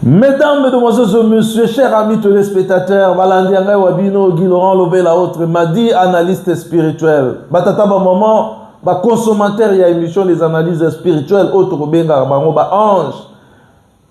Mesdames, Mesdemoiselles et Messieurs, chers amis téléspectateurs, Balandi Angai Wabino, Guy Laurent Lobela, autres, Madi, analyste spirituel. Batata, ba maman, ba consommateur ya émission des analyses spirituelles, autres, Benga, Bango, ba ange.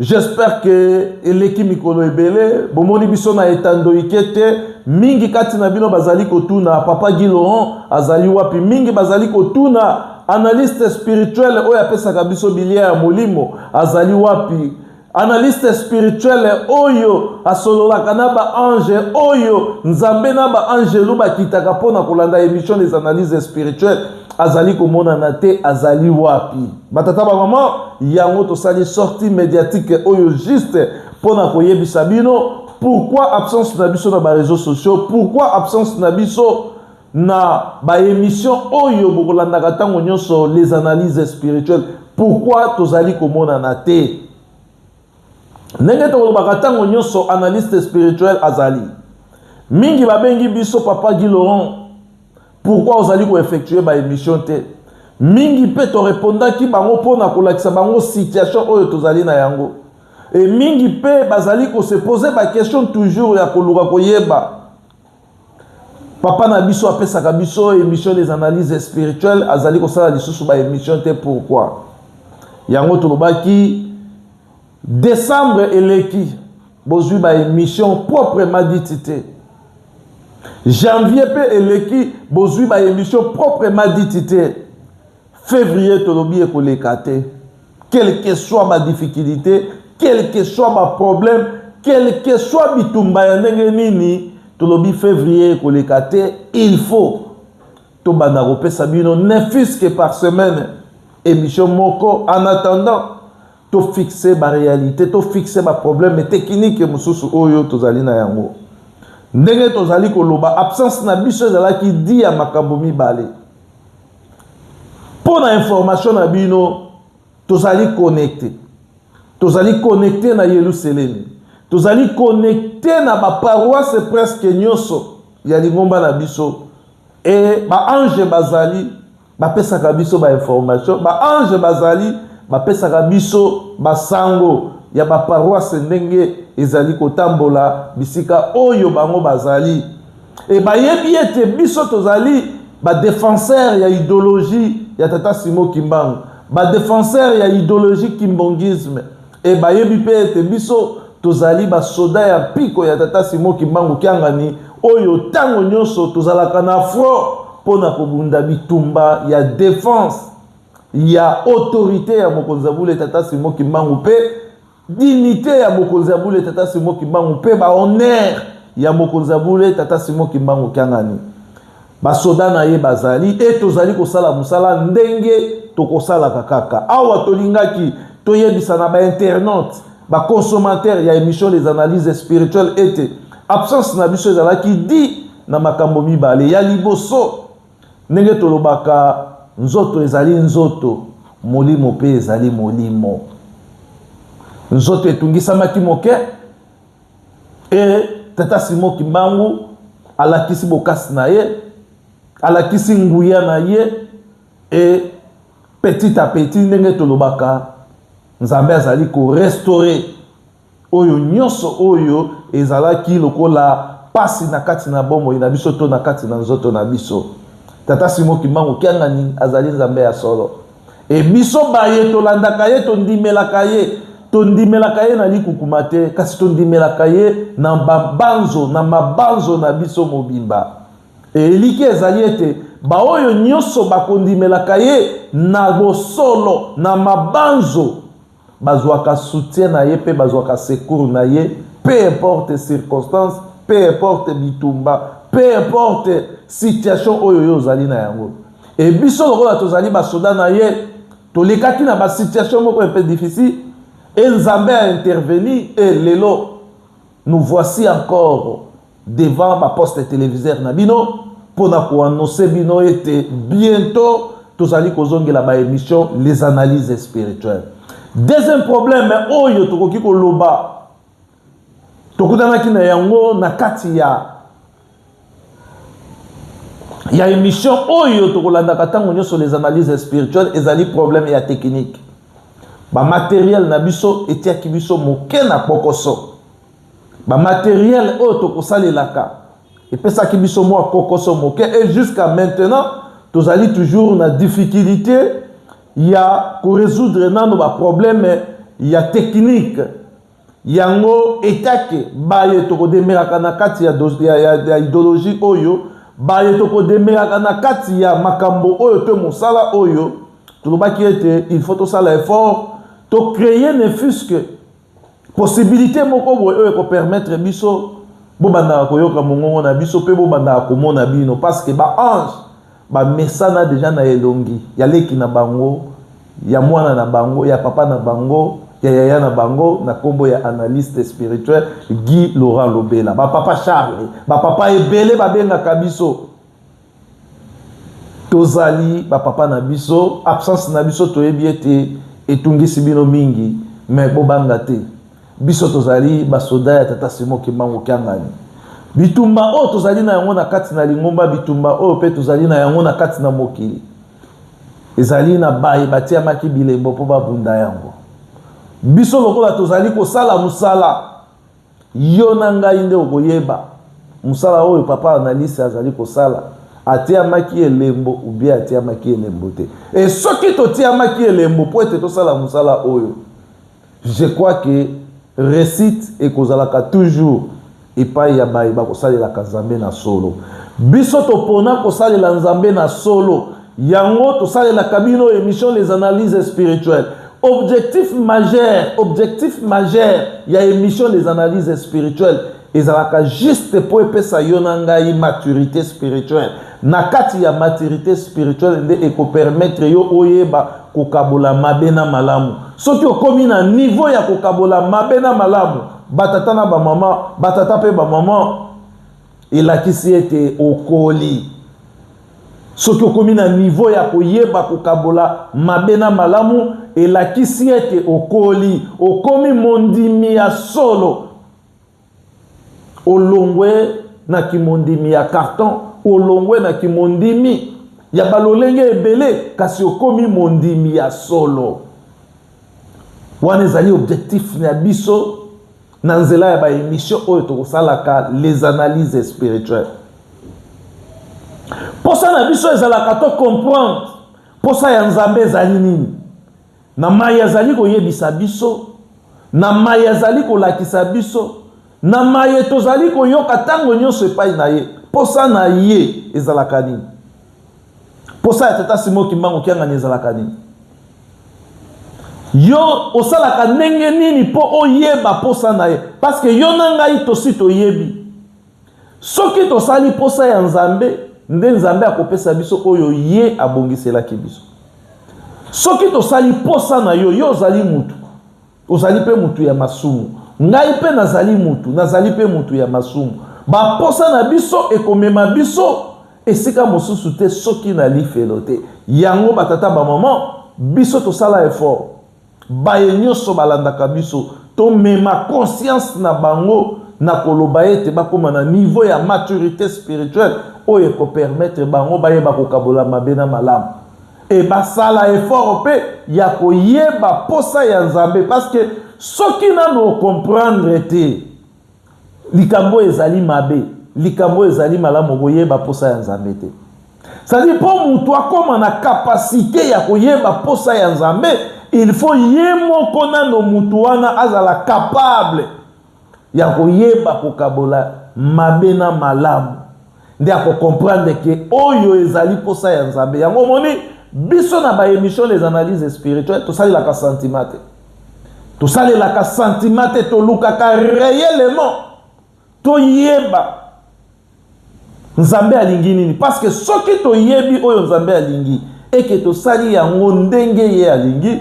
J'espère que eleki mikolo ebele, bomoni biso na etando ikete, mingi kati na bino bazali kotuna, papa Guy Laurent azali wapi, mingi bazali kotuna, Analyste spirituel oyo apesaka biso bilia ya molimo azali wapi? analyste spirituel oyo asololaka na baange oyo nzambe na baangelu bakitaka mpo na kolanda émission des analyses spirituelles azali komonana te azali wapi batata bamama yango tosali sortie médiatique oyo juste mpo na koyebisa bino pourquoi absence na biso na bareseau sociaux pourquoi absence na biso na ba emission oyo bokolandaka ntango nyonso les analyses spirituelles pourquoi tozali komonana te ndenge tokolobaka ntango nyonso analyste spirituel azali mingi babengi biso papa guy laurent pourquoi ozali koeffectue baémission te mingi mpe torepondaki bango mpo na kolakisa bango situation oyo tozali na yango e mingi mpe bazali kosepose baquestion toujours ya koluka koyeba papa na biso apesaka biso émission des analyses spirituelles azali kosala lisusu ba émission te pourquoi yango tolobaki décembre eleki bozwi ba émission proprement dite te janvier mpe eleki bozwi ba émission proprement dite te Fevrier tolobi ekoleka te. Quelle que soit ma difficulté, quelle que soit ma problème, quelle que soit bitumba ya ndenge nini, tolobi fevrier ekoleka te, il faut tobanda kopesa bino ne fût-ce que par semaine émission moko en attendant to fixer ba réalité, to fixer ba problème technique mosusu oyo tozali na yango. Ndenge tozali koloba absence na biso ezalaki dit ya makambo mibale. Mpo na information na bino, tozali connecte, tozali connecte na Yeluselemi, tozali connecte na baparoise presque nyonso ya lingomba na biso, e baange bazali bapesaka biso bainformation, baange bazali bapesaka biso basango ya baparoise ndenge ezali kotambola bisika oyo bango bazali. Et bayebi ete biso tozali ba défenseurs ya idéologie ya tata Simo Kimbangu, ba défenseurs ya idéologie kimbongisme et bayebi pe ete biso tozali ba soda ya piko ya tata Simo Kimbangu Kiangani oyo tango nyonso tozalaka na front pona kobunda bitumba ya défense ya autorité ya mokonzi ya bule tata Simo Kimbangu pe Dignite ya Mokonzi ya Bule Tata Simon Kimbangu mpe ba honneurs ya Mokonzi ya Bule Tata Simon Kimbangu Kiangani. Basoda na ye bazali e tozali kosala mosala ndenge tokosalaka kaka. Awa tolingaki toyebisa na ba internautes, ba consommateurs ya emission Les Analyses Spirituelles ete absence na biso ezalaki dit na makambo mibale. Ya liboso, Ndenge tolobaka, nzoto ezali nzoto, molimo mpe ezali molimo. Nzoto etungisamaki moke, e tata Simo Kimbangu alakisi bokasi na ye, alakisi nguya na ye, e petit a petit, ndenge tolobaka, Nzambe azali ko restaurer Oyo nyonso oyo ezalaki lokola pasi na kati na bomoi na biso to na kati na nzoto na biso. Tata Simon Kimbangu Kiangani azali Nzambe ya solo. E biso baye tolandaka ye, tondimelaka ye, tondimelaka ye na likukuma te, kasi tondimelaka ye na babanzo, na mabanzo na biso mobimba. Eliki ezali ete baoyo nyonso bakondimelaka ye na bosolo, na mabanzo, bazwaka soutien na ye mpe bazwaka secours na ye peu importe circonstance peu importe bitumba peu importe situation oyo yo ozali na yango e biso lokola tozali basoda na ye tolekaki na basituation moko mpe difficile e nzambe a intervenir e lelo nous voici encore devant ba poste televisaire na bino mpo na koannonce bino ete bientôt tozali kozongela ba émission les analyses spirituelles deuxième problème oyo tokoki koloba tokutanaki na yango na kati ya ya émission oyo tokolandaka ntango nyonso les analyses spirituelles ezali problème ya technique bamateriel na biso etiaki biso moke na kpokoso bamateriele oyo tokosalelaka epesaki biso mwa kokoso moke e jusqu'à maintenant tozali toujours na difficulté ya koresoudre nano baproblème ya technique yango etake baye tokodemelaka na kati ya, ya, ya, ya idéologie oyo baye tokodemelaka na kati ya makambo oyo to mosala oyo tolobaki ete il faut tosala effort tocreye ne fusque possibilité moko boye oyo ekopermettre biso bobandaka koyoka mongongo na biso mpe bobandaka komona bino parce que baange bamesana deja na elongi ya leki na bango ya mwana na bango ya papa na bango ya yaya na bango na nkombo ya analyste spirituel guy laurent lobela bapapa charle bapapa ebele babengaka biso tozali bapapa na biso absence na biso toyebi ete etungisi bino mingi me bobanga te biso tozali basoda ya tata simo kimbangu kiangani bitumba oyo tozali na yango na kati na lingomba bitumba oyo mpe tozali na yango na kati na mokili ezali na baye batiamaki bilembo mpo babunda yango biso lokola tozali kosala mosala Yo na ngai nde okoyeba mosala oyo papa analyste azali kosala atiyamaki elembo ubie atiyamaki elembo te e soki totiyamaki elembo mpo ete tosala mosala oyo je crois ke recite ekozalaka toujours epai ya baye bakosalelaka nzambe na solo biso topona kosalela nzambe na solo Yango tosalelaka bino emission les analyses spirituelles. Objectif majeur, objectif majeur ya emission les analyses spirituelles ezalaka juste mpo epesa yo na ngai maturité spirituelle na kati ya maturité spirituelle nde ekopermettre yo oyeba kokabola mabe na malamu soki okomi na niveau ya kokabola mabe na malamu batata na bamama batata mpe bamama elakisi ete okoli Soki okomi na nivo ya koyeba kokabola mabe na malamu, elakisi ete okoli, okomi mondimi ya solo. Olongwe na kimondimi ya karton, olongwe na kimondimi ya balolenge ebele, kasi okomi mondimi ya solo. Wana ezali objectif na biso. na nzela ya ba emission oyo tokosalaka les analyses spirituelles mposa na biso ezalaka to comprendre mposa ya nzambe ezali nini na mai azali koyebisa biso na mai azali kolakisa biso na maye tozali koyoka ntango nyonso epai na ye mposa na ye ezalaka nini mposa ya tata simo kimbangu kiangani ezalaka nini Yo osalaka ndenge nini mpo oyeba mposa na ye? Paske yo na ngai tosi toyebi. Soki tosali mposa ya Nzambe, nde Nzambe akopesa biso oyo ye abongiselaki biso. Soki tosali mposa na yo, yo ozali moto. Ozali mpe moto ya masumu. Ngai mpe nazali moto, nazali mpe moto ya masumu. Baposa na biso ekomema biso esika mosusu te soki na lifelo te. Yango batata bamama, biso tosala effort. Baye nyonso balandaka biso, tomema conscience na bango na koloba ete bakoma na niveau ya maturite spirituelle oyo ekopermettre bango bayeba kokabola mabe na malamu. e basala effort mpe ya koyeba mposa ya nzambe parceke soki nano okomprendre te likambo oyo ezali mabe likambo oyo ezali malamu okoyeba mposa ya nzambe te sadi mpo moto akóma na kapasite ya koyeba mposa ya nzambe il faut ye moko nano moto wana azala kapable ya koyeba kokabola mabe na malamu nde akokomprendre ke oyo ezali mposa ya nzambe yango omoni biso na baémission les analyses spirituelles tosalelaka sentiment te tosalelaka sentiment te tolukaka réellement toyeba Nzambe alingi nini? Parce que soki toyebi oyo Nzambe alingi et que tosali yango ndenge ye alingi,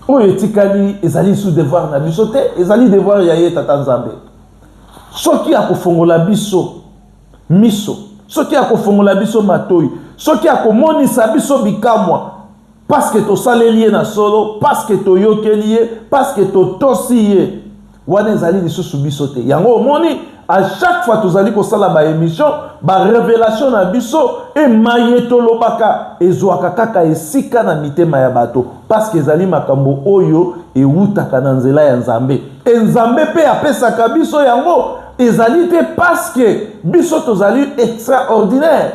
oyo etikali ezali lisusu devoir na biso te, ezali devoir ya ye Tata Nzambe. Soki akofongola biso miso, soki akofongola biso matoi, soki akomonisa biso bikamwa, parce que tosaleli ye na solo, parce que toyokeli ye, parce que totosi ye. wana ezali lisusu biso te yango omoni à chaque fois tozali kosala baémission barévélation na biso emaye tolobaka ezwaka kaka esika na mitema ya bato parceke ezali makambo oyo ewutaka na nzela ya nzambe e nzambe mpe apesaka biso yango ezali te parceke biso tozali extraordinaire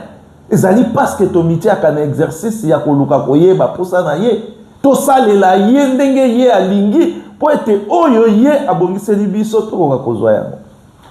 Ezali parce que tomitiaka na exercice ya koluka koyeba mposa na ye, tosalela ye ndenge ye alingi mpo ete oyo ye abongiseli biso tokoka kozwa yango.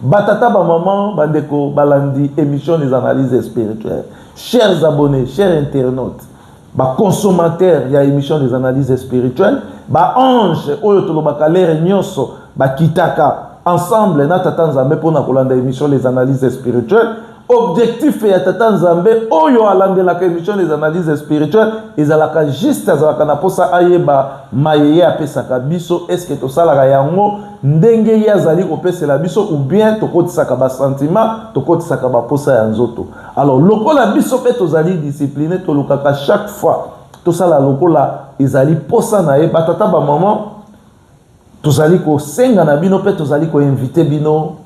Batata, bamama, bandeko balandi emission Les Analyses Spirituelles, chers abonnes, chers internautes, ba consommateurs ya émission des analyses spirituelles ba ange oyo tolobaka lere nyonso bakitaka ensemble na tata nzambe mpona kolanda émission les analyses spirituelles objectif ya tata nzambe oyo alandelaka émission des analyses spirituelles ezalaka juste azalaka na mposa ayeba maye ye apesaka biso estce tosalaka yango ndenge ye azali kopesela biso ou bien tokotisaka basentiment tokotisaka bamposa ya nzoto Alors lokola biso pe tozali discipline tolukaka chaque fois tosala lokola ezali posa na ye batata ba maman tozali kosenga na bino pe tozali koinvite bino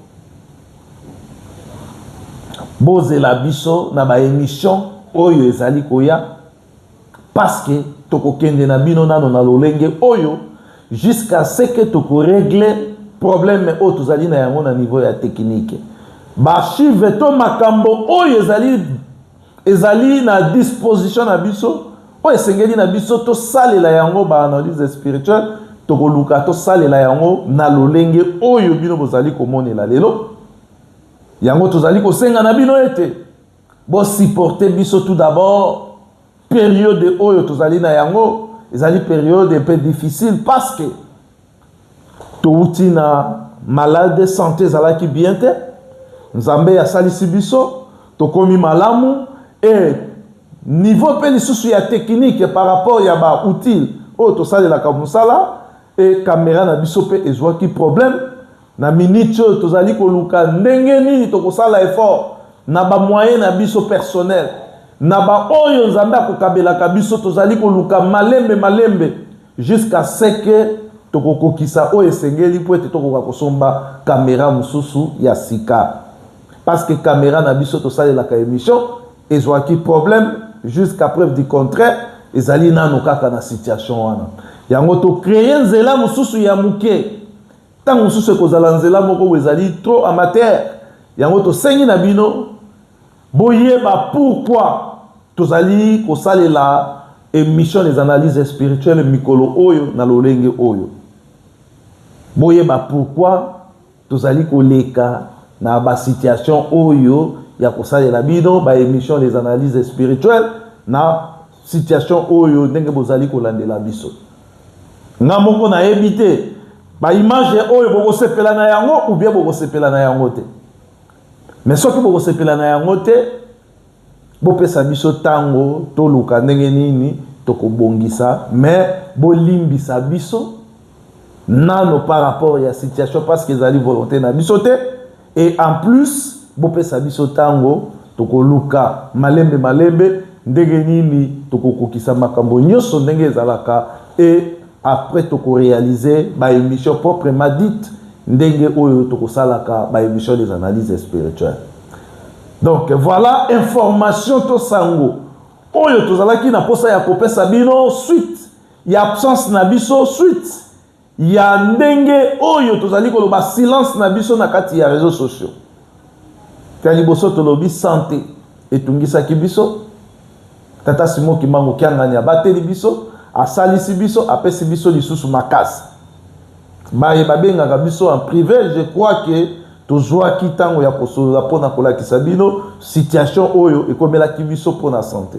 bozela biso na ba émission oyo ezali koya parce que tokokende na bino nano na lolenge oyo jusqu'à ce que tokoregle problème oyo tozali na yango na niveau ya tekinike baarchive to makambo oyo ezali ezali na disposition na biso oyo esengeli na biso tosalela yango baanalyse spirituelle tokoluka tosalela yango na lolenge oyo bino bozali komonela lelo yango tozali kosenga na bino ete Bo supporter biso tout d'abord periode oyo tozali na yango ezali periode un peu difficile parce que towuti na malade santé ezalaki bien te nzambe asalisi biso tokomi malamu e niveau mpe lisusu ya teknike par rapport ya ba outile oyo tosalelaka mosala e kamera na biso mpe ezwaki problème Na minute oyo tozali koluka ndenge nini tokosala effort na ba moyen na biso personnel na ba oyo Nzambe akokabelaka biso tozali koluka malembe malembe jusqu'à ce que tokokokisa oyo esengeli mpo ete tokoka kosomba camera mosusu ya sika parce que camera na biso tosalelaka emission ezwaki problème jusqu'à preuve du contraire ezali nano kaka na situation wana yango to créer nzela mosusu ya moke Ntango mosusu ekozala nzela moko oyo ezali trop amateur, yango tosengi na bino boyeba pourquoi tozali kosalela emission des analyses spirituelles mikolo oyo na lolenge oyo. Boyeba pourquoi tozali koleka na ba situation oyo ya kosalela bino ba emission des analyses spirituelles na situation oyo ndenge bozali kolandela biso. nga moko nayebi te baimage oyo bokosepela na yango ubie bokosepela na yango te me soki bokosepela na yango te bopesa biso ntango toluka ndenge nini tokobongisa me bolimbisa biso nano par rapport ya situation parce que ezali volonté na biso te et en plus bopesa biso ntango tokoluka malembe malembe ndenge nini tokokokisa makambo nyonso ndenge ezalaka et après tokorealize baémission proprement dite ndenge oyo tokosalaka baémission des analyses spirituelles donc voilà information to sango oyo tozalaki na mposa ya kopesa bino suite ya absence na biso suite ya ndenge oyo tozali koloba silence na biso na kati ya réseaux sociaux ya liboso tolobi sante etungisaki biso tata simo kimbangu kiangani abateli biso asalisi biso apesi biso lisusu makasi baye babengaka biso en privé je crois que tozwaki ntango ya kosolola mpo na kolakisa bino situation oyo ekomelaki biso mpo na sante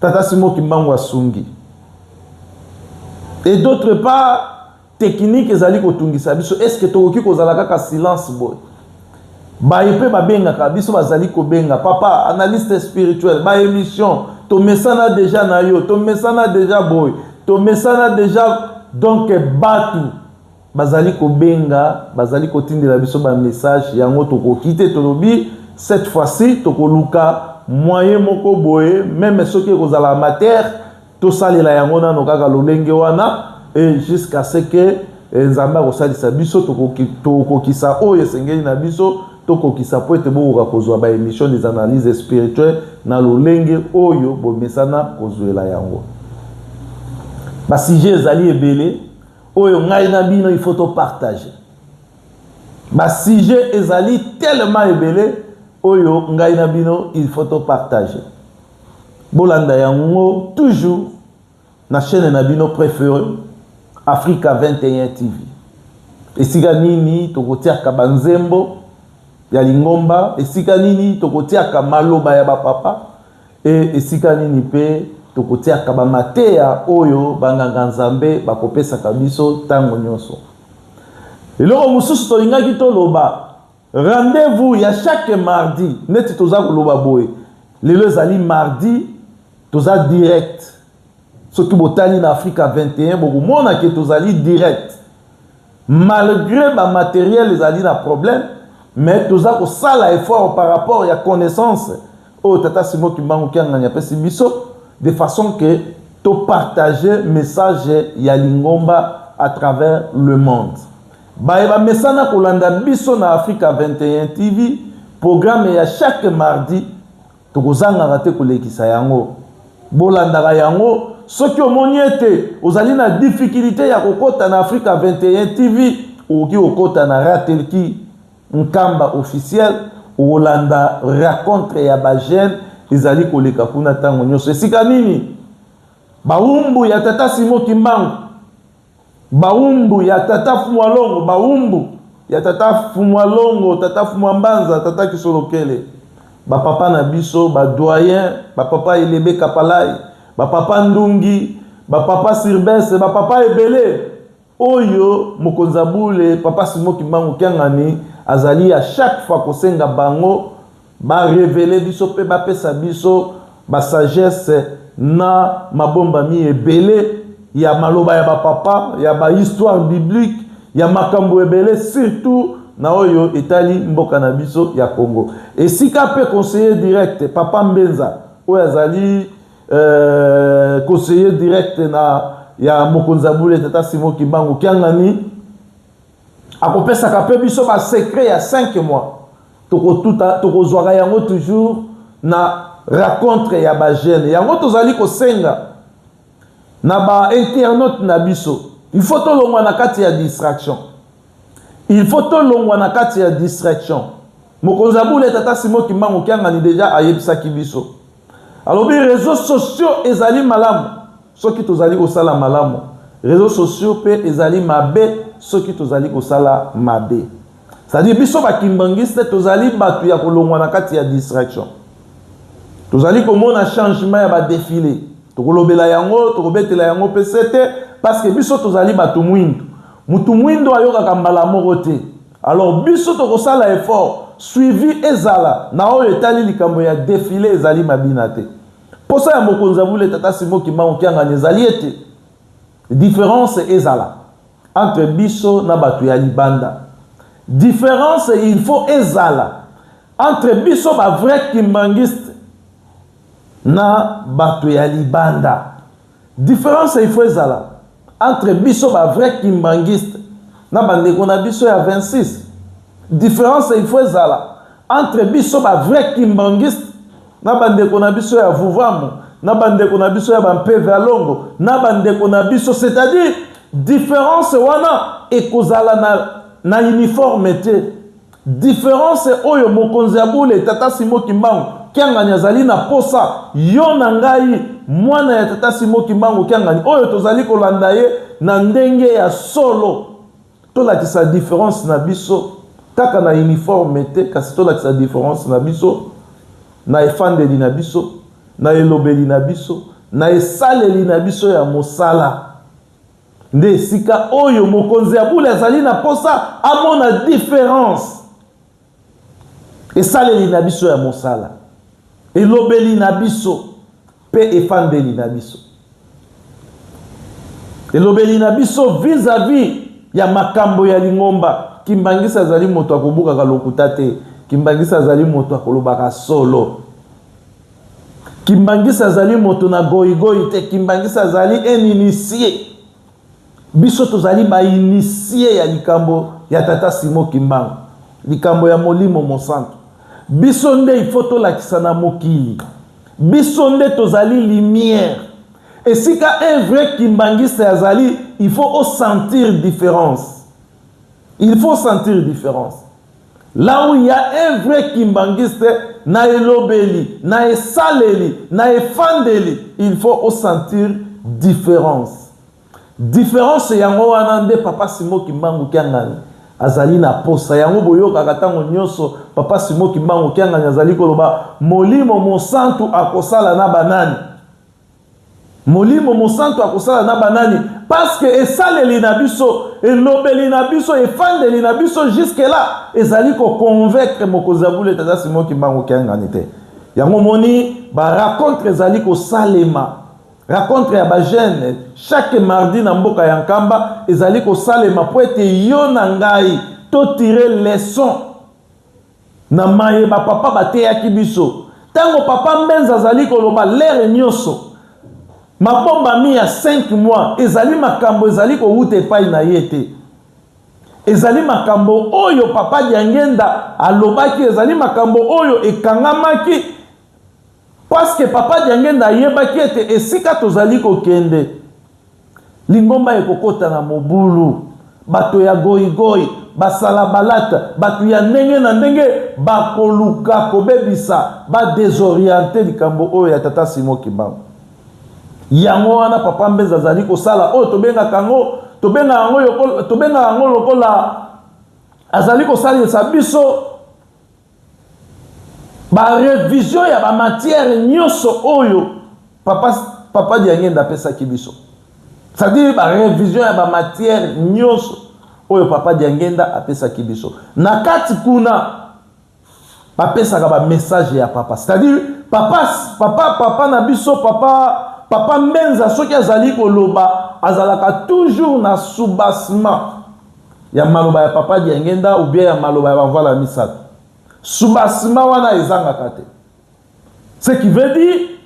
Tata Simon Kimbangu asungi. Et d'autre part, technique ezali kotungisa biso. Est-ce que tokoki kozala kaka silence boy? baye mpe babengaka biso bazali kobenga papa analyste spirituel baémission tomesana deja na yo tomesana deja boye tomesana deja donk batu Bazali kobenga, bazali kotindela biso ba messages, yango tokoki te, tolobi cette fois ci tokoluka moyen moko boye, meme soki ekozala amateur, tosalela yango nano kaka lolenge wana et jusqu'à ce que eh, Nzambe akosalisa biso tokokisa oyo esengeli na biso tokokisa mpo ete bokoka kozwa ba émission des analyses spirituelles na lolenge oyo bomesana kozwela yango basujet ezali ebele oyo ngai na bino il faut topartage basujet ezali tellement ebele oyo ngai na bino il faut topartage bolanda yango toujours na chaîne na bino préféré africa 21 tv esika nini tokotiaka banzembo ya lingomba esika nini tokotiaka maloba ya bapapa E, esika nini mpe tokotiaka ba mateya oyo banganga Nzambe bakopesaka biso ntango nyonso? Eloko mosusu tolingaki toloba, rendez-vous ya chaque mardi, neti toza koloba boye, lelo ezali mardi, toza direct. Soki botali na Afrika 21, bokomona ke tozali direct. Malgre ba materiel ezali na problème mais toza kosala effort par rapport ya connaissance oyo tata Simon Kimbangu Kiangani apesi biso de façon que to partager message ya lingomba à travers le monde. Baye bamesana kolanda biso na Africa 21 TV, programme ya chaque mardi Tokozangaka te kolekisa yango. Bolandaka yango soki omoni ete ozali na difikilite ya kokota na Africa 21 TV, okoki kokota na Ratelki Nkamba officiel, okolanda racontre ya ba jeunes ezali koleka kuna ntango nyonso. Esika nini? Bawumbu ya Tata Simon Kimbangu. Bawumbu ya tata fumua longo bawumbu ya tata fumua longo tata fumua mbanza tata kisolokele ba papa na biso ba doyen ba papa elebe kapalay ba papa ndungi ba papa sirbese ba papa ebele oyo mokonzi ya bule papa simo kimbangu kiangani azali ya chaque fois kosenga bango Ba reveler biso pe ba pesa biso ba sagesse na mabombami ebele ya maloba ya ba papa, ya ba histoire biblique, ya makambu ebele surtout na oyo etali mboka na biso ya Congo. Esika pe conseiller direct papa Mbenza oyo azali euh, conseiller direct na ya mokonzi ya Bule tata Simon Kimbangu Kiangani akopesaka mpe biso basecret ya 5 mois tokotuta tokozwaka yango toujours na racontre ya bajeune yango tozali kosenga na bainternaute na biso il faut tolongwa na kati ya distraction il faut tolongwa na kati ya distraction mokonzi ya bule tata simo kimbangu kiangani deja ayebisaki biso Alobi reseaux sociaux ezali malamu soki tozali kosala malamu, reseaux sociaux mpe ezali mabe soki tozali kosala mabe. C'est-à-dire biso ba kimbanguiste tozali batu ya kolongwa na kati ya distraction. Tozali komona changement ya ba défilé. Tokolobela yango, tokobetela yango mpe sete parce que biso tozali batu mwindu. Mutu mwindo ayokaka mbala moko te. Alors biso tokosala effort suivi ezala na oyo etali likambo ya defile ezali mabina te. Posa ya mokonzi ya bule tata Simon Kimbangu Kiangani ezali ete difference ezala entre biso na bato ya libanda. Difference il faut ezala entre biso ba vrai kimbanguiste na bato ya libanda. Difference il faut ezala Entre biso ba vrai kimbanguiste na ba ndeko na biso ya 26 difference il faut ezala entre biso ba vrai kimbanguiste na ba ndeko na biso ya vuvamu na ba ndeko na biso ya ba mpeve ya longo na ba ndeko na biso c'est à dire difference wana ekozala na na uniforme te Difference oyo mokonzi ya bule tata Simon Kimbangu Kiangani azali na posa, yo na ngai, mwana ya tata Simon Kimbangu Kiangani oyo tozali kolanda ye na ndenge ya solo, tolakisa difference na biso kaka na uniforme te, kasi tolakisa difference na biso na efandeli na biso, na elobeli na biso, na esaleli na biso ya mosala. Nde esika oyo mokonzi ya bule azali na mposa amona diference. Esaleli na biso ya mosala, elobeli na biso mpe efandeli na biso, elobeli na biso vis-à-vis -vis ya makambo ya lingomba. Kimbangisa azali moto akobukaka lokuta te. Kimbangisa azali moto akolobaka solo. Kimbanguiste azali moto na goigoi te, Kimbanguiste azali un initie. Biso tozali ba initie ya likambo ya tata Simon Kimbangu, likambo ya Molimo Mosantu. Biso nde il faut tolakisa na mokili, biso nde tozali lumière. Esika un vrai Kimbanguiste azali, il faut osentir difference, il faut sentir difference. Là où il ya un vrai kimbanguiste na elobeli, na esaleli, na efandeli, il faut o sentir difference. Difference yango wana nde Papa Simon Kimbangu Kiangani azali na posa yango boyokaka ntango nyonso papa simo kimbangu kiangani azali koloba molimo mosantu akosala na banani Molimo Mosantu akosala na banani? Parce que esaleli na biso, elobeli na biso, efandeli na biso jusque là ezali ko convaincre mokonzi ya bule tata Simon Kimbangu Kiangani te. Yango moni ba rencontre ezali kosalema rencontre ya bajeune chaque mardi na mboka ya nkamba ezali kosalema mpo ete yo na ngai totire leson Na maye ba papa bateyaki biso, tango papa Mbenza azali koloba l'heure nioso mabombami ya cinq mois ezali makambo ezali kowuta epai na ye te. Ezali makambo oyo papa Diangienda alobaki, ezali makambo oyo ekangamaki. Parce que papa Diangenda ayebaki ete esika tozali kokende, lingomba ekokota na mobulu. Bato ya goigoi, basalabalata, bato ya ndenge na ndenge bakoluka kobebisa, ba desorienter likambo oyo ya tata Simon Kimbangu. Yango wana papa Mbeza azali kosala oyo tobengaka yango tobengaka yango lokola, tobengaka yango lokola azali kosalisa biso ba revision ya ba matière nyonso oyo papa papa diangenda apesaki biso c'est-à-dire ba revision ya ba matière nyonso oyo papa diangenda apesaki biso na kati kuna bapesaka ba message ya papa c'est-à-dire papa papa papa na biso papa papa mbenza soki azali koloba azalaka toujours na soubassement ya maloba ya papa diengenda ou bien ya maloba ya bavala misato subasima wana ezangaka te ce qui veut dire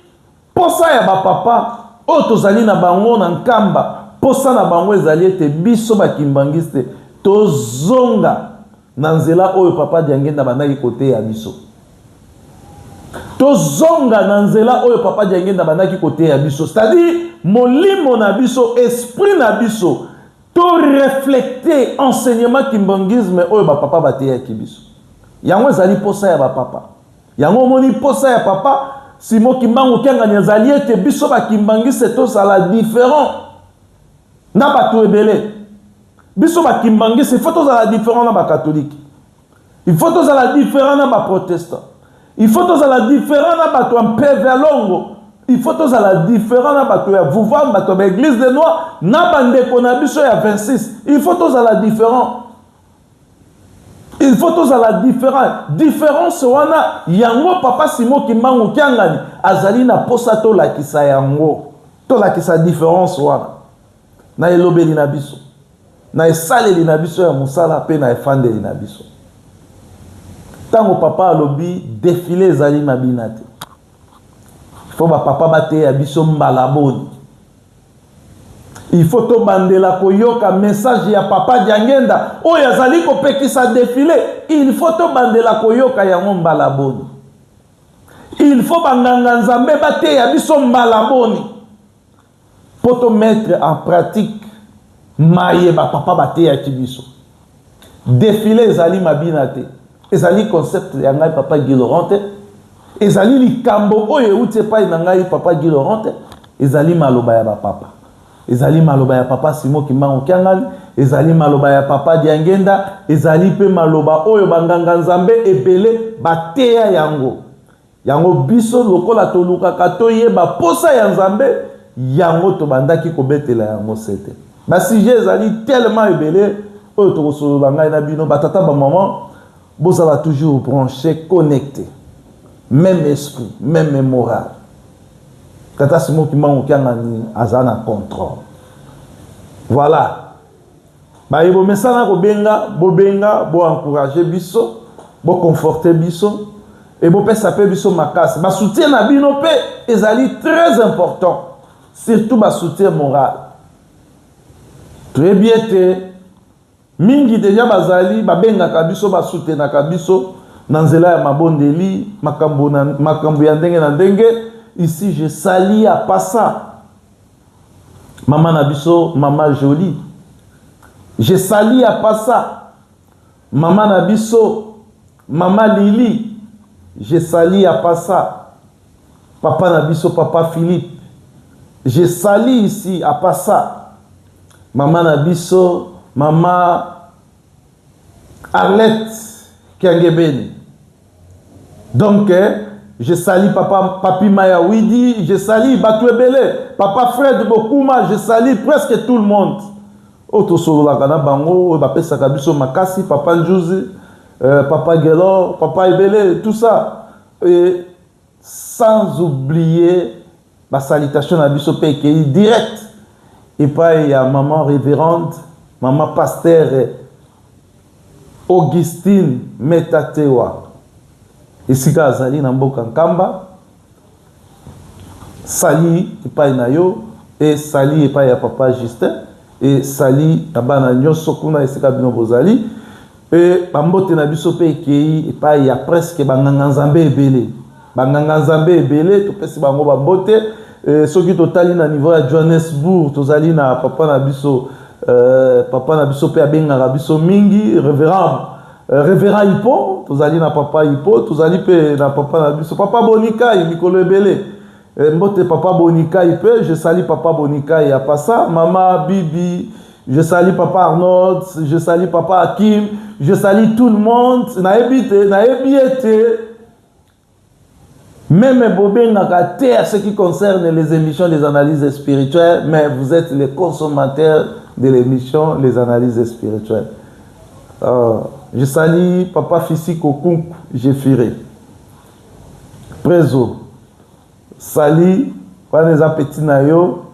mposa ya bapapa oyo tozali na bango na nkamba mposa na bango ezali ete biso bakimbangiste tozonga na nzela oyo papa diangenda abandaki koteya biso tozonga na nzela oyo papa diangenda abandaki koteya biso c'est-à-dire molimo na biso esprit na biso To reflecter enseignement kimbanguisme oyo ba papa bateyaki biso. Yango ezali posa ya ba papa. Yango omoni posa ya papa Simo Kimbangu Kiangani ezali ete biso ba kimbanguiste tozala different na bato ebele. Biso ba kimbanguiste il faut tozala different na ba catholique. Il faut tozala different na ba protestants. Il faut tozala different na bato ya mpeve ya longo. Il faut tozala different na bato ya vuvam, bato ya baeglise de noi, na bandeko na biso ya 26. Il faut tozala different. il faut tozala différent différence wana yango papa simo kimbangu kiangani azali na mposa tolakisa yango tolakisa différence wana na elobeli na biso na esaleli na biso ya mosala mpe na efandeli na biso. Ntango papa alobi defile ezali mabina te, fo bapapa bateya biso mbala boni ifo tobandela koyoka message ya papa diangenda oyo azali kopekisa defile ilfo tobandela koyoka yango mbala boni ilfo banganga nzambe bateya biso mbala boni mpo to mettre en pratique maye ba papa bateyaki biso. Defile ezali mabina te, ezali concept ya ngai papa Guy Laurent te, ezali likambo oyo euti epai na ngai papa Guy Laurent te, ezali maloba ya ba papa. ezali maloba ya papa simo kimbangu kiangani ezali maloba ya papa diangenda ezali mpe maloba oyo banganga nzambe ebele bateya yango Yango biso, lokola tolukaka toyeba mposa ya Nzambe, yango tobandaki kobetela yango sete. Ba sujets ezali tellement ebele oyo tokosolola ngai na bino, ba tata, ba maman, bozala toujours branche, connecte. Même esprit, même moral. Tata Simo Kimbangu Kiangani aza na contrôle. Voilà. baye bomesana kobenga bobenga bo encourage biso boconforte biso e bopesa mpe biso makasi basoutien na bino mpe ezali très important surtout basoutien moral toyebi ete mingi deja bazali babengaka biso basoutenaka biso na nzela ya mabondeli makambo ya ndenge na ndenge ici je sali ya pasa Maman na biso, maman Jolie. Je salie à passa. Maman na biso, maman Lili. Je salie à passa. Papa na biso, papa Philippe. Je salie ici à passa. Maman na biso, maman Arlette Kiangebeni. Donc, je sali papa Papi Maya Widi, je sali Batu Ebele, papa Fred Bokuma, je sali presque tout le monde. Oyo tosololaka na bango, oyo bapesaka biso makasi, papa Njuzi, euh, papa Gelor, papa Ebele, tout ça. Et sans oublier Ba salutations na biso pe ekeyi direct epai ya maman reverende maman pasteur Augustine Metatewa esika azali na mboka Nkamba. Sali epai na yo e sali epai ya papa Justin e sali na bana nyonso kuna esika bino bozali. Mpe bambote na biso mpe ekei epai ya preske banganganzambe ebele banganganzambe ebele topesi bango bambote e, soki totali na niveau ya johannesburg tozali na papa na biso e, papa na biso mpe abengaka biso mingi reverend e, reverend ipo tozali na papa ipo tozali mpe na papa na biso papa bonikai mikolo ebele Eh, mbote papa Bonikai pe je sali papa Bonikai ya pasa mama Bibi je sali papa Arnold je sali papa Akim je sali tout le monde nayebi te nayebi ete Même Bobengaka te à ce qui concerne les émissions des analyses spirituelles, mais vous êtes les consommateurs de l'émission Les analyses spirituelles. Euh, je salue Papa Fissiko Kunk, j'ai firé. prezo sali wana eza petit na yo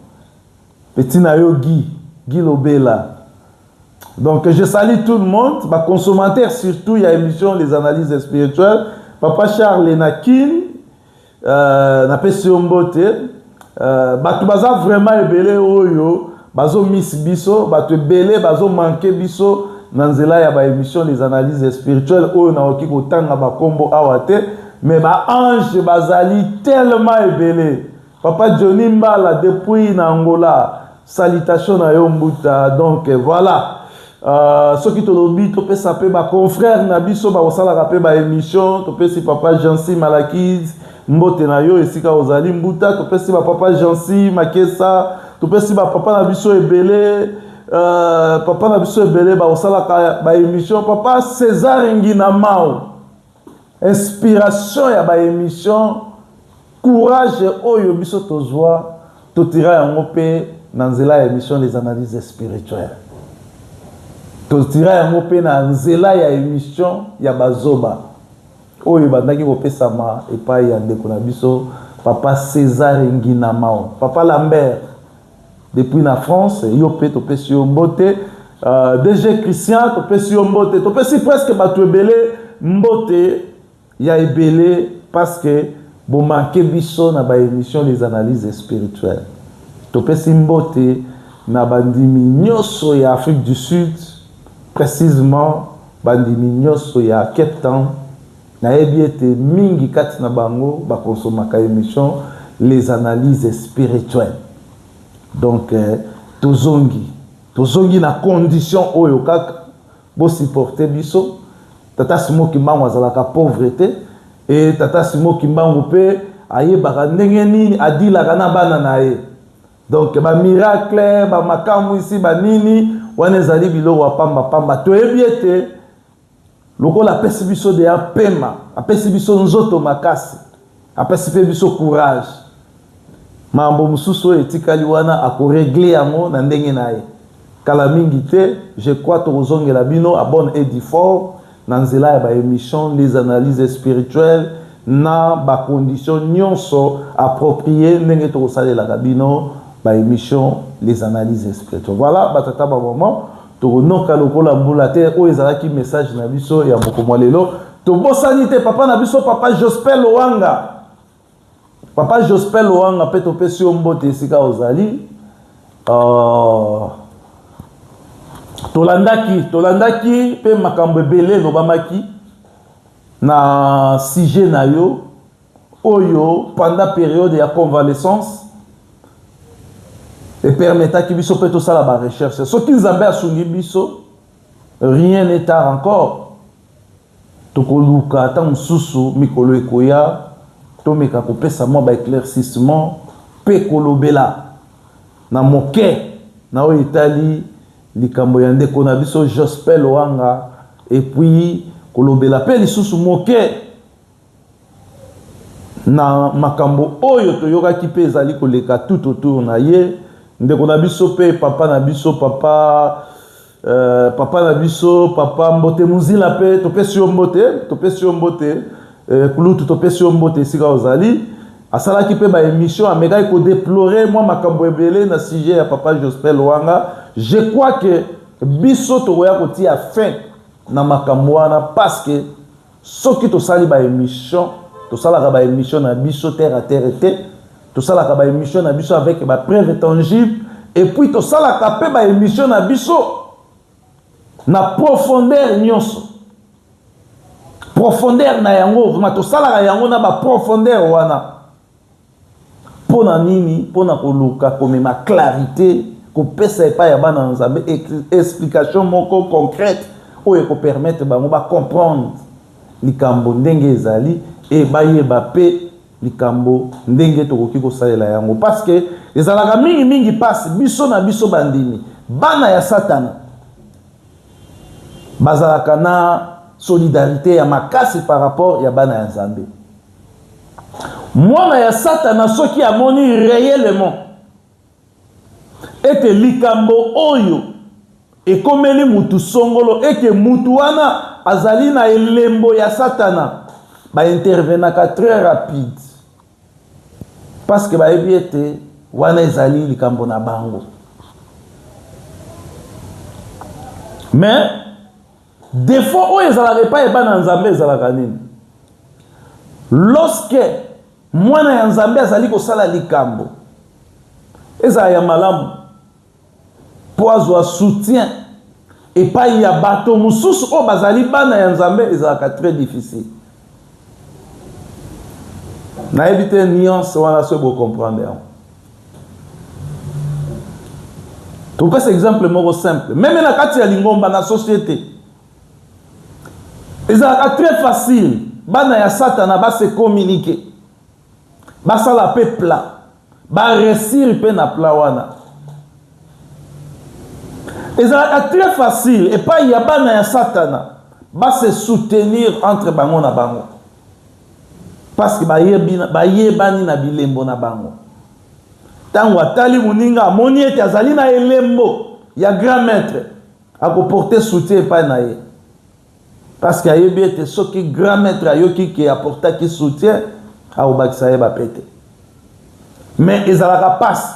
petit na yo guy guy lobela donc je sali tout le monde baconsommateur surtout ya émission les analyses spirituelles papa charles na kin euh, napesi yo mbote Euh, bato baza vraiment ebele oyo bazo miss biso bato ebele bazo manke biso na nzela ya ba émission des analyses spirituelles oyo nakoki kotanga bakombo awa te mais ba ange bazali tellement ebele papa johnny mbala depuis na angola Salutation na yo mbuta donc voilà uh, soki tolobi topesa mpe baconfrère na biso bakosalaka mpe baémission topesi papa jansi malakise mbote na yo esika ozali mbuta topesi bapapa jansi makesa topesi bapapa na biso ebele uh, papa na biso ebele bakosalaka baémission papa césar nginamao Inspiration ya ba emission courage oyo biso tozua totira yango pe na nzela ya emission les analyses spirituelles. Totira yango pe na nzela ya emission ya bazoba oyo ebandaki kopesama epai ya ndeko na biso papa Cesar Nginamao, papa Lambert depuis na france yo mpe topesi yo mbote uh, dg christian topesi yo mbote topesi presque bato ebele mbote ya ebele parce que bomanke biso na baémission des analyses spirituelles topesi mbote na bandimi nyonso ya afrique du sud précisement bandimi nyonso ya cape town Nayebi ete mingi kati na bango ba consomaka emission les analyses spirituelles donc tozongi tozongi na condition oyo kaka bo supporter biso tata Simon Kimbangu azalaka pauvre te et tata Simon Kimbangu pe ayebaka ndenge nini a dealaka na bana na ye donc ba miracle ba makamwisi ba nini wana ezali biloko ya pamba pamba toyebi ete Lokola apesi biso deya pema, apesi biso nzoto makasi, apesi mpe biso courage. Mambo mosusu oyo etikali wana akoregle yango na ndenge na ye. Kala mingi te, je crois tokozongela bino à bonne et due forme na nzela ya ba emissions, les analyses spirituelles na ba conditions nyonso appropriees ndenge tokosalelaka bino ba emissions, les analyses spirituelles. Voilà ba tata ba maman. tokonoka lokola mbula te oyo ezalaki message na biso ya moko mwa lelo tobosani te papa na biso papa jospel lowanga papa jospel lowanga mpe topesi yo mbote esika ozali uh, tolandaki tolandaki mpe makambo ebele elobamaki na sujet na yo oyo pendant periode ya convalescence epermetaki biso mpe tosala ba recherche soki nzambe asungi biso rien n'est tard encore tokoluka ata mosusu mikolo ekoya tomeka kopesa mwa baeclaircissement mpe kolobela na moke na oyo etali likambo ya ndeko na biso jospel wanga epuis kolobela mpe lisusu moke na makambo oyo toyokaki mpe ezali koleka tout autour na ye ndeko na biso mpe papa na biso papa euh, papa na biso papa mbote mozila mpe topesi yo mbote topesi yo mbote euh, kulutu topesi yo mbote esika ozali asalaki mpe baémission amekaki kodeplore mwa makambo ebele na sujet ya papa jospel wanga je crois que biso tokoya kotia fin na makambo wana parce que Soki tosali ba emission, tosalaka ba emission na biso terre à terre te, tosalaka ba emission na biso avec ba preuve tangible et puis tosalaka pe ba emission na biso na profondeur nyonso. Profondeur na yango, vraiment tosalaka yango na ba profondeur wana. Pona nini? Pona koluka komema clarite, kopesa epai ya bana na Nzambe explication moko concrète oyo eko permettre bango ba comprendre likambo ndenge ezali et bayeba pe likambo ndenge tokoki kosalela yango parce que ezalaka mingi mingi pasi biso na biso bandimi bana ya satana bazalaka na solidarité ya makasi par rapport ya bana ya Nzambe. Mwana ya Satana soki amoni reellement ete likambo oyo ekomeli mutu songolo, ete mutu wana azali na elembo ya Satana, ba intervenaka très rapide parce que bayebi ete wana ezali likambo na bango mais Defaut oyo ezalaka epai ya bana ya Nzambe ezalaka nini? Lorsque mwana ya Nzambe azali kosala likambo, ezala ya malamu, mpo azwa soutien epai ya bato mosusu oyo bazali bana ya Nzambe, ezalaka très difficile. nayebi te nuance wana soki bocomprendre yango topesa exemple moko simple meme na kati ya lingomba na societe ezalaka très facile bana ya satana base communique basala mpe plat baresire mpe na plat wana ezalaka très facile epai ya bana ya satana base soutenir entre bango na bango Parce que bayebani na bilembo na bango. Tango atali moninga amoni ete azali na elembo ya grand maitre, ako porter soutien epai na ye. Parce que ayebi ete soki grand maitre ayoki ke aportaki soutien, akobakisa ye ba pete. Mais ezalaka pasi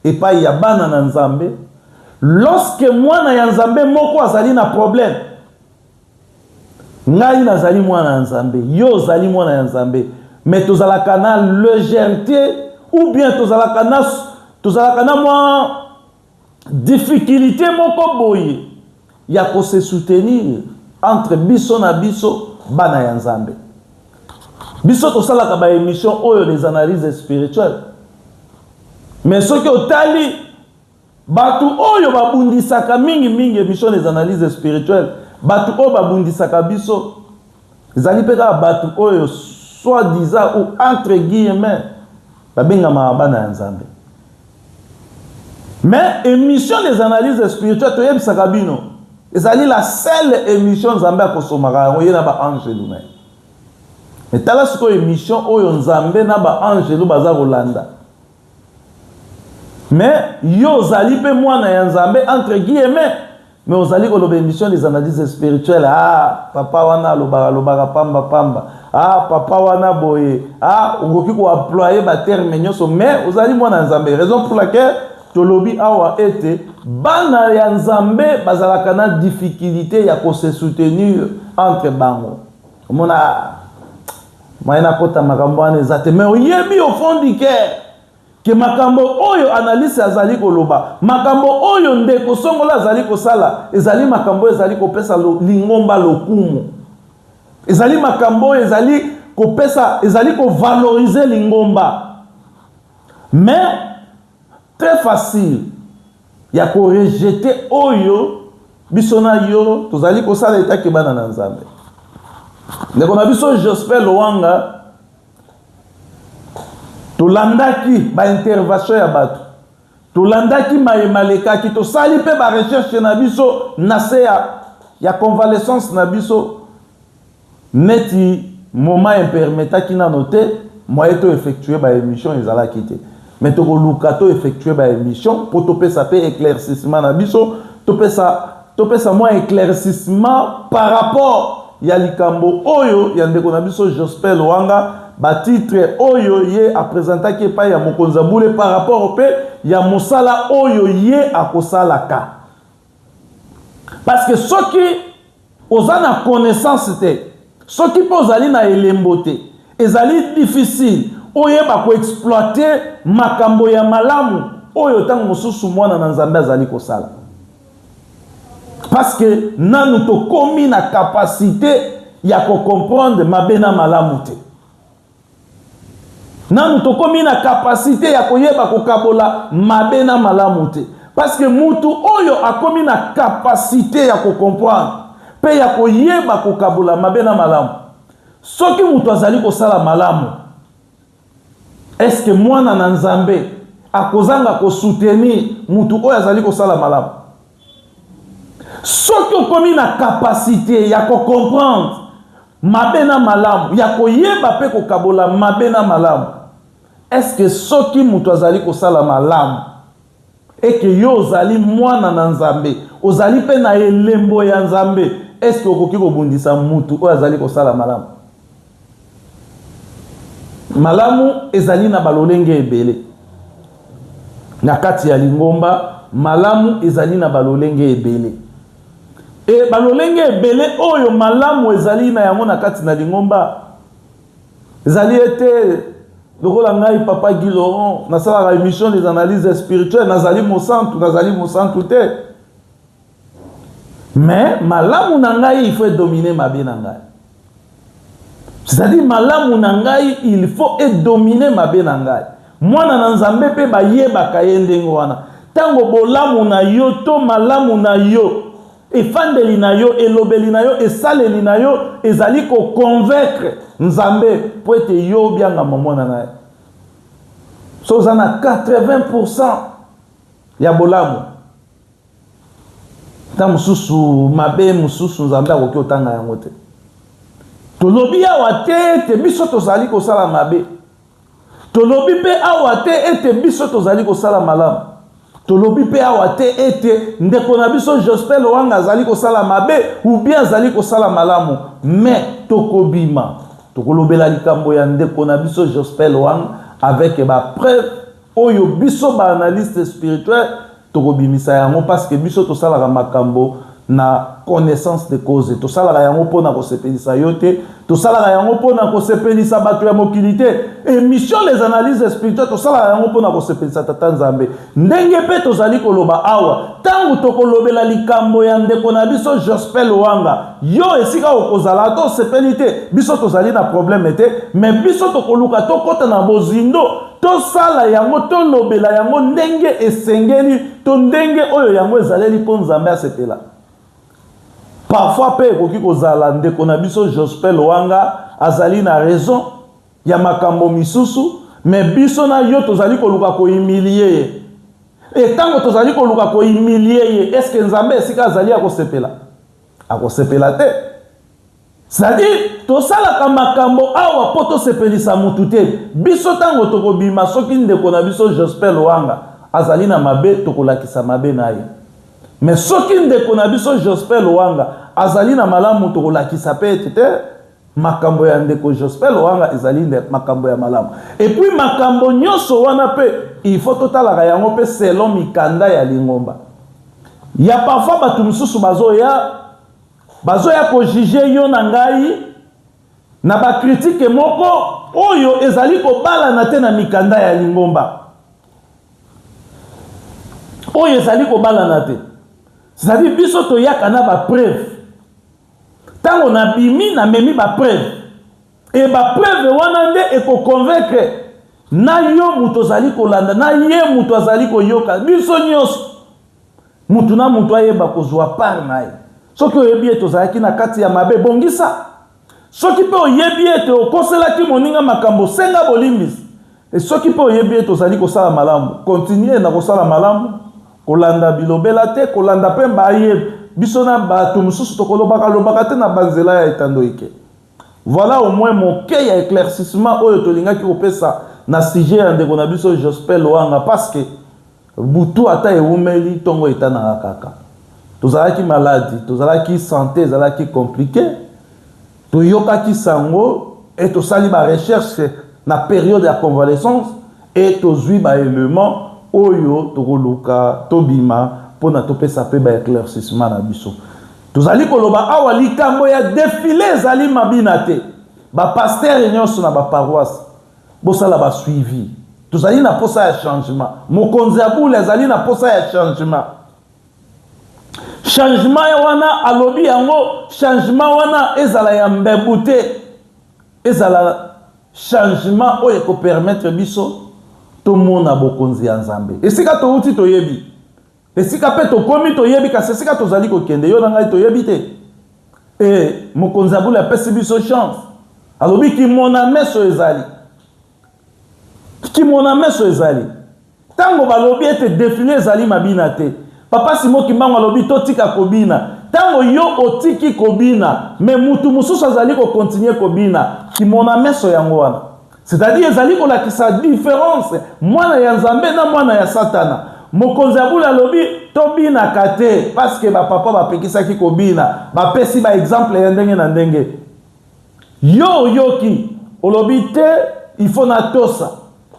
epai ya bana na Nzambe lorsque mwana ya Nzambe moko azali na problème. Ngai nazali mwana ya Nzambe, yo ozali mwana ya Nzambe, mais tozalaka na légèreté ou bien tozalaka na tozalaka na mwa difficulté moko boye ya ko se soutenir entre biso na biso bana ya Nzambe. Biso tosalaka ba émissions oyo des analyses spirituelles. Mais soki otali Bato oyo babundisaka mingi mingi emission des analyses spirituelles, bato oyo babundisaka biso ezali mpe kaka bato oyo soit disant ou entre guillemets babengamaka bana ya Nzambe. Mais emission des analyses spirituelles toyebisaka bino ezali la seule emission Nzambe akosomaka yango ye na ba angelu na ye. Mais tala sikoyo emission oyo Nzambe na ba angelu baza kolanda. mais yo ozali mpe mwana ya nzambe entre guillemets mais ozali koloba émission des analyses spirituelles ah papa wana alobaka alobaka pamba pamba ah papa wana boye ah okoki koemploye baterme nyonso mais ozali mwana ya nzambe raison pour laquelle tolobi awa ete bana ya nzambe bazalaka na difficulté ya kose soutenir entre bango Omona maye nakota makambo wana eza te mais oyebi au fond du cœur ke makambo oyo analyse azali koloba makambo oyo ndeko songola azali kosala ezali makambo oyo ezali kopesa lingomba lokumu ezali makambo oyo ezali kopesa ezali kovalorize lingomba mais très facile ya ko rejeter oyo biso na yo tozali kosala etake bana na nzambe ndeko na biso jospin loanga tolandaki baintervention ya bato tolandaki maye malekaki tosali mpe barecherche na biso na se ya convalescence na biso Neti moment e permetaki nano te, moyen to effectuer ba emissions ezalaki te. Mais tokoluka to effectuer ba emissions po topesa pe eclaircissement na biso, topesa, topesa mua eclaircissement par rapport ya likambo oyo ya ndeko na biso Jospeh Loanga, ba titres oyo ye a presentaki epayi ya mokonzi ya bule par rapport pe ya mosala oyo ye akosalaka. parce que soki oza na connaissance te soki mpe ozali na elembo te ezali difficile oyeba koexploite makambo ya malamu oyo ntango mosusu mwana na nzambe azali kosala parce que nanu tokomi na kapasite ya kocomprendre mabe na malamu te nanu tokomi na kapasite ya koyeba kokabola mabe na malamu te parceke mutu oyo akomi na kapasite ya kokomprendre mpe ya koyeba kokabola mabe na malamu soki moto azali kosala malamu eske mwana na nzambe akozanga kosoutenir moto oyo azali kosala malamu soki okomi na kapasite ya kocomprendre mabe na malamu ya koyeba mpe kokabola mabe na malamu eske soki moto azali kosala malamu eke yo ozali mwana na nzambe ozali mpe na elembo ya nzambe eske okoki kobundisa motu oyo azali kosala malamu Malamu ezali na balolenge ebele. Na kati ya lingomba, malamu ezali na balolenge ebele. E balolenge ebele oyo malamu ezali na yango na kati na lingomba ezali ete lokola ngai papa Guy Laurent nasalaka emission des analyses spirituelles nazali mosantu nazali mosantu te mais malamu na ngai il faut edomine mabe na ngai c'est-à-dire malamu na ngai il faut edomine mabe na ngai mwana na nzambe mpe bayebaka ye ndenge wana ntango bolamu na yo to malamu na yo efandeli na yo elobeli na yo esaleli na yo ezali koconvaincre nzambe mpo ete yo obiangama mwana na ye so oza na 80 ya bolamu Ntango mosusu mabe mosusu Nzambe akoki kotanga yango te. Tolobi awa te ete biso tozali kosala mabe, tolobi mpe awa te ete biso tozali kosala malamu, tolobi mpe awa te ete ndeko na biso Jospin Loanga azali kosala mabe ou bien azali kosala malamu, mais tokobima tokolobela likambo ya ndeko na biso Jospin Loanga avec ba preuves oyo biso ba analyste spirituel tokobimisa yango parce que biso tosalaka makambo na connaissance de cause tosalaka yango mpo na kosepelisa yo te tosalaka yango mpo na kosepelisa bato ya mokili te émission les analyses spirituelles tosalaka yango mpo na kosepelisa tata nzambe ndenge mpe tozali koloba awa ntango tokolobela likambo ya ndeko na biso jospel wanga yo esika okozala ata osepeli te biso tozali na probleme te me biso tokoluka tokɔta na bozindo Tosala yango, tolobela yango ndenge esengeli to ndenge oyo yango ezaleli mpo Nzambe asepela. Parfois mpe ekoki kozala ndeko na biso Jospel Wanga azali na raison ya makambo misusu, me biso na yo tozali koluka koimilie ye. E ntango tozali koluka koimilie ye, eske Nzambe esika azali akosepela? Akosepela te. C'est-à-dire, tosalaka makambo awa mpo tosepelisa mutu te. Biso ntango tokobima, soki ndeko na biso Jospeh Loanga azali na mabe, tokolakisa mabe na ye. Me soki ndeko na biso Jospeh Loanga azali na malamu, tokolakisa mpe ete te makambo ya ndeko Jospeh Loanga ezali nde makambo ya malamu. Epuis makambo nyonso wana mpe il faut totalaka yango mpe selon mikanda ya lingomba. Ya parfois bato mosusu bazoya Bazoya ko juger yo na ngai na ba critiques moko oyo ezali kobalana te na mikanda ya lingomba. Oyo ezali kobalana te. C'est-à-dire biso toyaka na ba preuves. Tango nabimi namemi ba preuves. Et ba preuves wana nde eko convaincre na yo moto ozali kolanda na ye moto azali koyoka biso nyonso. Mutu na mutu ayeba kozua part na ye. Soki oyebi ete ozalaki na kati ya mabe, bongisa. Soki mpe oyebi ete okoselaki moninga makambo, senga bolimbisi. Mpe soki mpe oyebi ete ozali kosala malamu, kontinue na kosala malamu, kolanda bilobela te, kolanda mpe baye biso na batu mosusu tokolobaka lobaka te na banzela ya etando ike. Voilà au moins moke ya eclaircissement oyo tolingaki kopesa na sujet ya ndeko na biso Jospeh Loanga parce que Butu ata ewumeli, tongo etanaka kaka. Tozalaki maladi, tozalaki sante ezalaki komplike, toyokaki sango e tosali ba recherche na periode ya convalescence e tozui ba elements oyo tokoluka tobima mpo na topesa mpe ba eclaircissement na biso. Tozali koloba awa likambo ya defile ezali mabina te. Ba pastere nionso na ba paroisse Bosala ba suivi. Tozali na posa ya changement. Mokonzi ya bule azali na posa ya changement. Changement ya wana alobi yango, changement wana ezala ya mbebu te. Ezala changement oyo eko permettre biso tomona bokonzi ya Nzambe. Esika towuti toyebi. Esika mpe tokomi toyebi, kasi esika tozali kokende yo na ngai toyebi te. E mokonzi ya bule apesi biso chance, alobi kimona meso ezali, kimona meso ezali. Ntango balobi ete defile ezali mabina te, papa Simo Kimbangu alobi totika kobina. Ntango yo otiki kobina, me mutu mosusu azali kokontinue kobina, kimona meso yango wana. C'est-à-dire ezali kolakisa difference mwana ya Nzambe na mwana ya Satana. Mokonzi ya bule alobi tobinaka te parce que bapapa bapekisaki kobina, bapesi ba exemple ya ndenge na ndenge. Yo oyoki olobi te il faut natosa,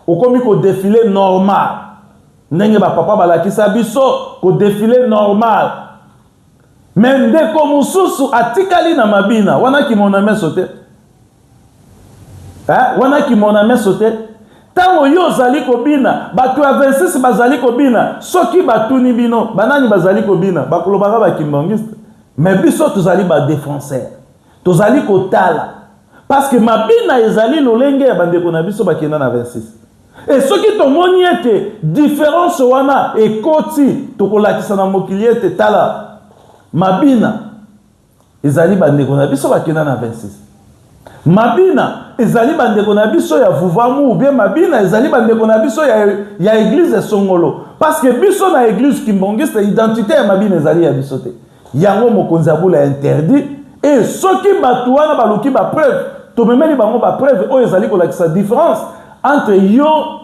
okomi kodefile normal ndenge bapapa balakisa biso kodefile normal Mais ndeko mususu atikali na mabina wana kimona meso te eh, wana kimona meso te ntango yo ozali kobina bato ya 26 bazali kobina soki batuni bino banani bazali kobina bakolobaka bakimbangiste me biso tozali badefenseur tozali kotala parceke mabina ezali lolenge ya bandeko na biso bakenda na 26 E soki tomoni ete diferanse wana ekoti, tokolakisa na mokili ete, Tala, Mabina ezali bandeko na biso bakenda na 26. Mabina ezali bandeko na biso ya Vuvamu, oubien Mabina ezali bandeko na biso ya, ya eglise Songolo. Parce que biso na eglise Kimbongiste, identite ya Mabina ezali ya biso te. Yango mokonzi ya bula interdit et soki bato wana baluki ba preuve tomemeli bango ba preuve oyo ezali kolakisa difference entre yo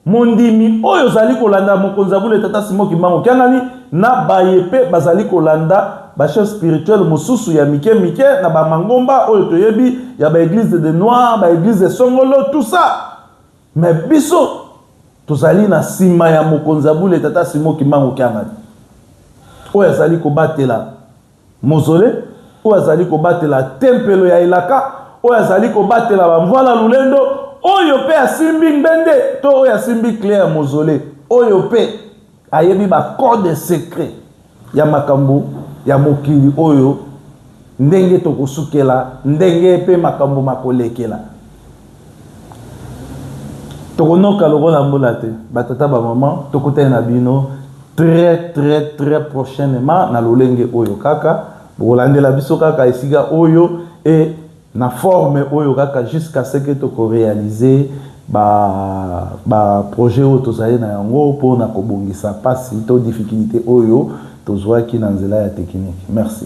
mondimi oyo ozali kolanda mokonzi ya bule tata simo kimbangu kiangani na baye mpe bazali kolanda bachef spirituel mosusu ya mike mike na bamangomba oyo toyebi ya baeglise de noir baeglise de songolo tout ça Mais biso tozali na sima ya mokonzi ya bule tata Simon Kimbangu Kiangani oyo azali kobatela mozole oyo azali kobatela tempelo ya elaka oyo azali kobatela bamvwala lulendo oyo mpe asimbi ngbende to oyo asimbi kle ya mozole oyo mpe ayebi bacode secret ya makambo ya mokili oyo ndenge tokosukela ndenge mpe makambo makolekela tokonoka lokola mbula te batata bamama tokutani na bino très très très prochainement na lolenge oyo kaka bokolandela biso kaka esika oyo e na forme oyo kaka jusqu'à ce que toko realiser ba ba projets oyo tozali na yango mpo na kobongisa mpasi to difficulite oyo tozuaki na nzela ya technique. Merci.